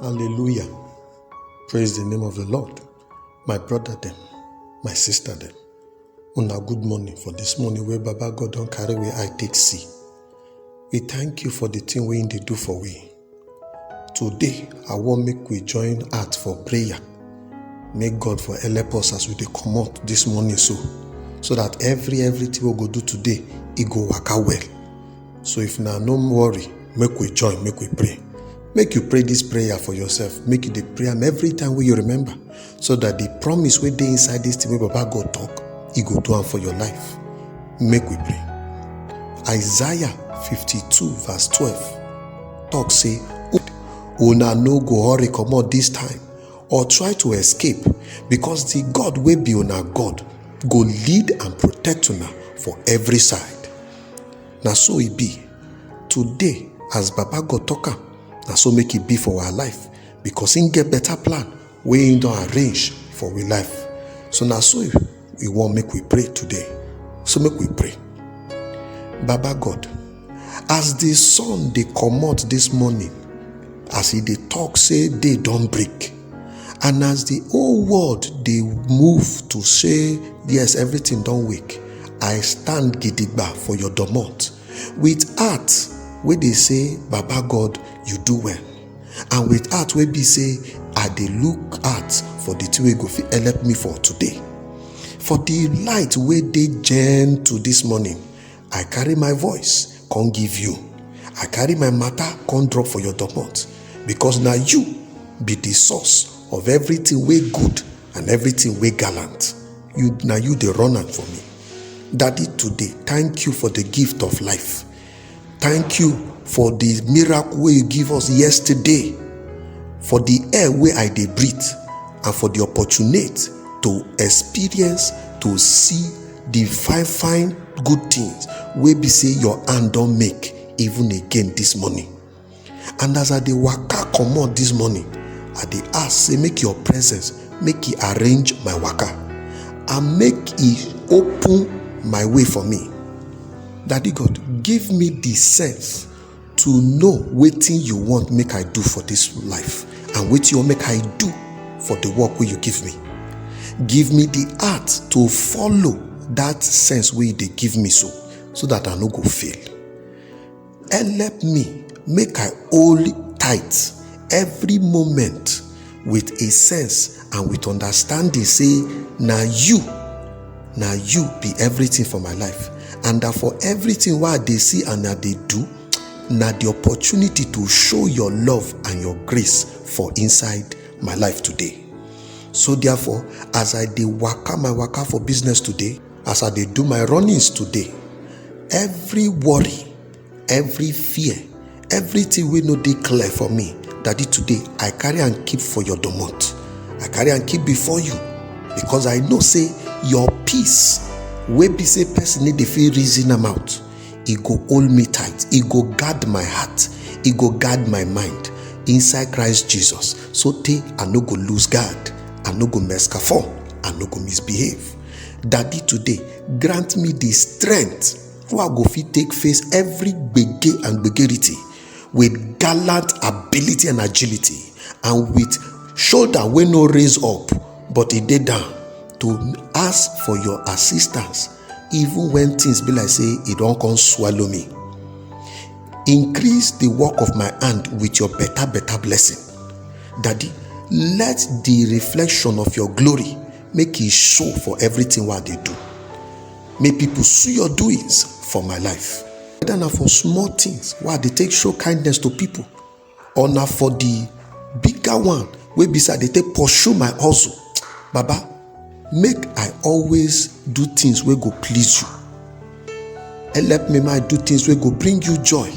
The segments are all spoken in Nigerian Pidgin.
Hallelujah. Praise the name of the Lord. My brother them, my sister them. Una good morning for this morning where Baba God don't carry where I take see. We thank you for the thing we they do for we. Today, I want make we join heart for prayer. Make God for help us as we dey come out this morning so, so that every everything we go do today, it go work out well. so if na no worry make we join make we pray make you pray this prayer for yourself make you dey pray am every time wey you remember so that the promise wey dey inside this thing wey baba god talk e go do am for your life make we pray isaiah 52 verse 12 talk say una no go hurry comot this time or try to escape because the god wey be una god go lead and protect una for every side na so e be today as baba god talk am na so make e be for our life because him get better plan wey him don arrange for we life so na so we wan make we pray today so make we pray baba god as the sun dey comot this morning as e dey talk say day don break and as di whole world dey move to say yes everything don wake i stand gidigba for your domot with heart wey dey say baba god you do well and with heart wey be say i dey look out for di thing wey go fit help me for today for di light wey dey gentle dis morning i carry my voice come give you i carry my matter come drop for your domot because na you be the source of everything wey good and everything wey gallant you na you dey run am for me daddy today thank you for the gift of life thank you for the miracle wey you give us yesterday for the air wey i dey breathe and for the opportunity to experience to see dey fine fine good things wey be say your hand don make even again this morning and as i dey waka comot this morning i dey ask say make your presence make e arrange my waka and make e open my way for me daddy god give me the sense to know wetin you want make i do for dis life and wetin you want make i do for di work wey you give me give me di heart to follow dat sense wey you dey give me so so dat i no go fail help me make i hold tight every moment with a sense and with understanding say na you na you be everything for my life and that for everything wey i dey see and i dey do na the opportunity to show your love and your grace for inside my life today so therefore as i dey waka my waka for business today as i dey do my runnings today every worry every fear everything wey no dey clear for me daddy today i carry am keep for your domot i carry am keep before you because i know say your peace wey be say person no dey fit reason am out e go hold me tight e go guard my heart e go guard my mind inside christ jesus so tey i no go lose guard i no go mess fall i no go misbehave daddy today grant me the strength how I go fit take face every gbege and gbegerity with gallant ability and agility and with shoulder wey no raise up but e dey down to ask for your assistance even when things be like say e don come swallow me. Increase the work of my hand with your better better blessing. Daddy, let the reflection of your glory make e show for everything wey I dey do. Make people see your doings for my life. Whether na for small things wey I dey take show kindness to people or na for the bigger one wey be say I dey take pursue my hustle. Baba, make I always do things wey go please you. Help me make I do things wey go bring you joy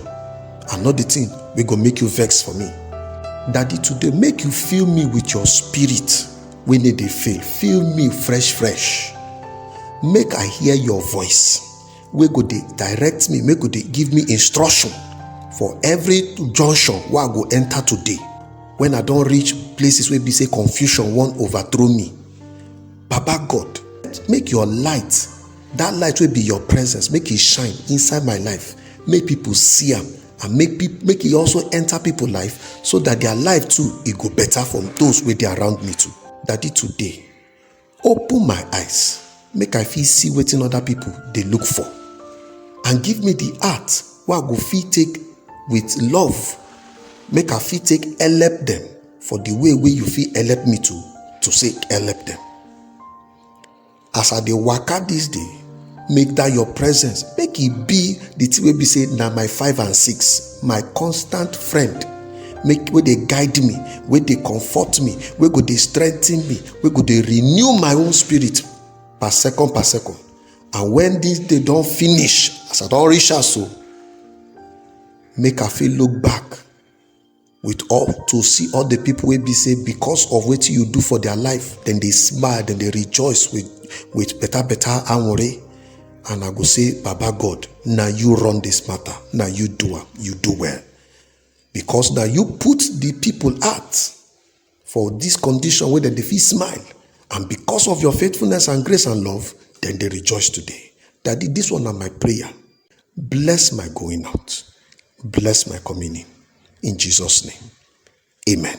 and not the thing wey go make you vex for me. Daddy, today make you fill me with your spirit. wey no dey fail fill me fresh fresh make i hear your voice wey go dey direct me make go dey give me instruction for every junction wey i go enter today when i don reach places wey be say confusion wan overthrow me baba god make your light that light wey be your presence make e shine inside my life make people see am and make peop- make e also enter people life so that their life too e go better from those wey dey around me too daddy today open my eyes make i fit see wetin other people dey look for and give me the heart wey i go fit take with love make i fit take help them for the way wey you fit help me to to say help them as i dey waka this day make that your presence make e be the thing wey be say na my five and six my constant friend make wey dey guide me wey dey comfort me wey go dey strengthen me wey go dey renew my own spirit per second per second and when this day don finish as i don reach house o make i fit look back with all to see all the people wey be say because of wetin you do for their life dem dey smile dem dey rejoice with with better better anwore and i go say baba god na you run this matter na you do am you do well because na you put the people heart For this condition wey dem dey fit smile and because of your faithfulness and grace and love, dem dey rejoice today. Daddy, this one na my prayer. Bless my going out, bless my coming in. In Jesus' name, amen.